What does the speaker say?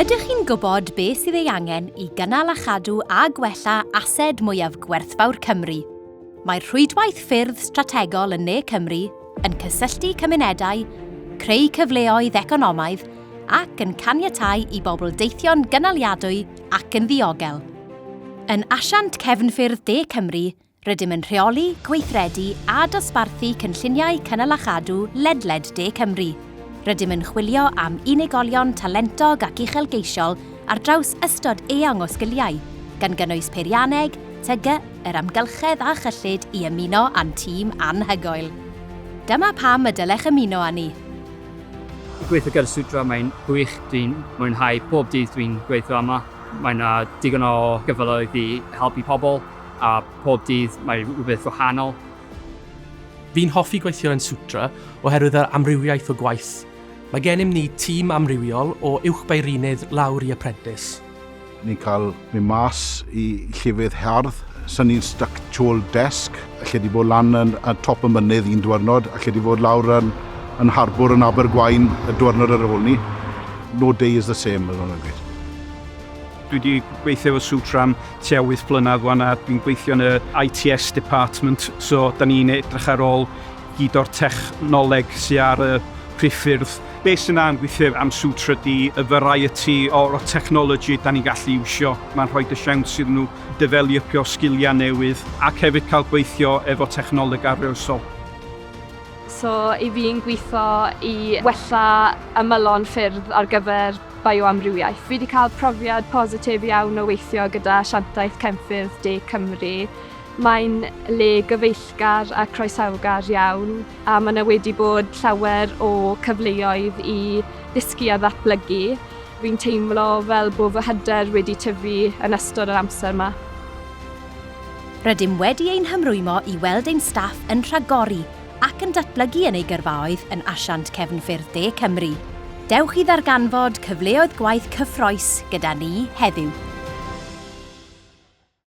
Ydych chi'n gwybod beth sydd ei angen i gynnal a chadw a gwella ased mwyaf gwerthfawr Cymru? Mae'r Rhwydwaith Ffyrdd Strategol yn Ne Cymru yn cysylltu cymunedau, creu cyfleoedd economaidd ac yn caniatáu i bobl deithio'n gynaliadwy ac yn ddiogel. Yn Asiant Cefnffyrdd De Cymru, Rydym yn rheoli, gweithredu a dosbarthu cynlluniau cynnal a chadw ledled de Cymru. Rydym yn chwilio am unigolion talentog ac uchelgeisiol ar draws ystod eang o sgiliau, gan gynnwys peirianneg, TG, yr amgylchedd a chyllid i ymuno â'n tîm anhygoel. Dyma pam y dylech ymuno â ni! Gweithio gyda Sutra, mae'n gwych, dwi'n mwynhau pob dydd dwi'n gweithio yma. Mae 'na digon o gyfleoedd i helpu pobl. a pob dydd mae rhywbeth wahanol. Fi'n hoffi gweithio yn Sutra oherwydd yr amrywiaeth o gwaith. Mae gennym ni tîm amrywiol o uwchbeirinydd lawr i aprentis. Ni'n cael mynd mas i llefydd hardd, synnu'n styc tu ôl desg, alle di fod lan yn ar top y mynydd un diwrnod, alle di fod lawr yn yn harbwr yn Abergwaun y diwrnod ar ôl 'ny. No day is the same fel ma' nhw'n gweud. Dwi 'di gweithio efo Sutra am tua wyth blynedd wan a dwi'n gweithio yn y ITS department so 'da ni'n edrych ar ôl gyd o'r technoleg sy ar y priffyrdd. Be sy'n dda am gweithio am Sutra ydi y variety o o technology 'da ni'n gallu iwsio, ma'n rhoid y siawns iddyn nhw defelypio sgilia newydd ac hefyd cael gweithio efo technoleg arloesol. So i fi yn gwitho i wella ymylon ffyrdd ar gyfer bioamrywiaeth. Fi 'di cael profiad positif iawn o weithio gyda Asiantaeth Cenffyrdd De Cymru. Mae'n le gyfeillgar a croesawgar iawn a mae 'na wedi bod llawer o cyfleoedd i ddysgu a ddatblygu. Fi'n teimlo fel bod fy hyder wedi tyfu yn ystod yr amser 'ma. Rydym wedi ein hymrwymo i weld ein staff yn rhagori ac yn datblygu yn ei gyrfaoedd yn Asiant Cefnffyrdd De Cymru. Dewch i ddarganfod cyfleoedd gwaith cyffrous gyda ni heddiw.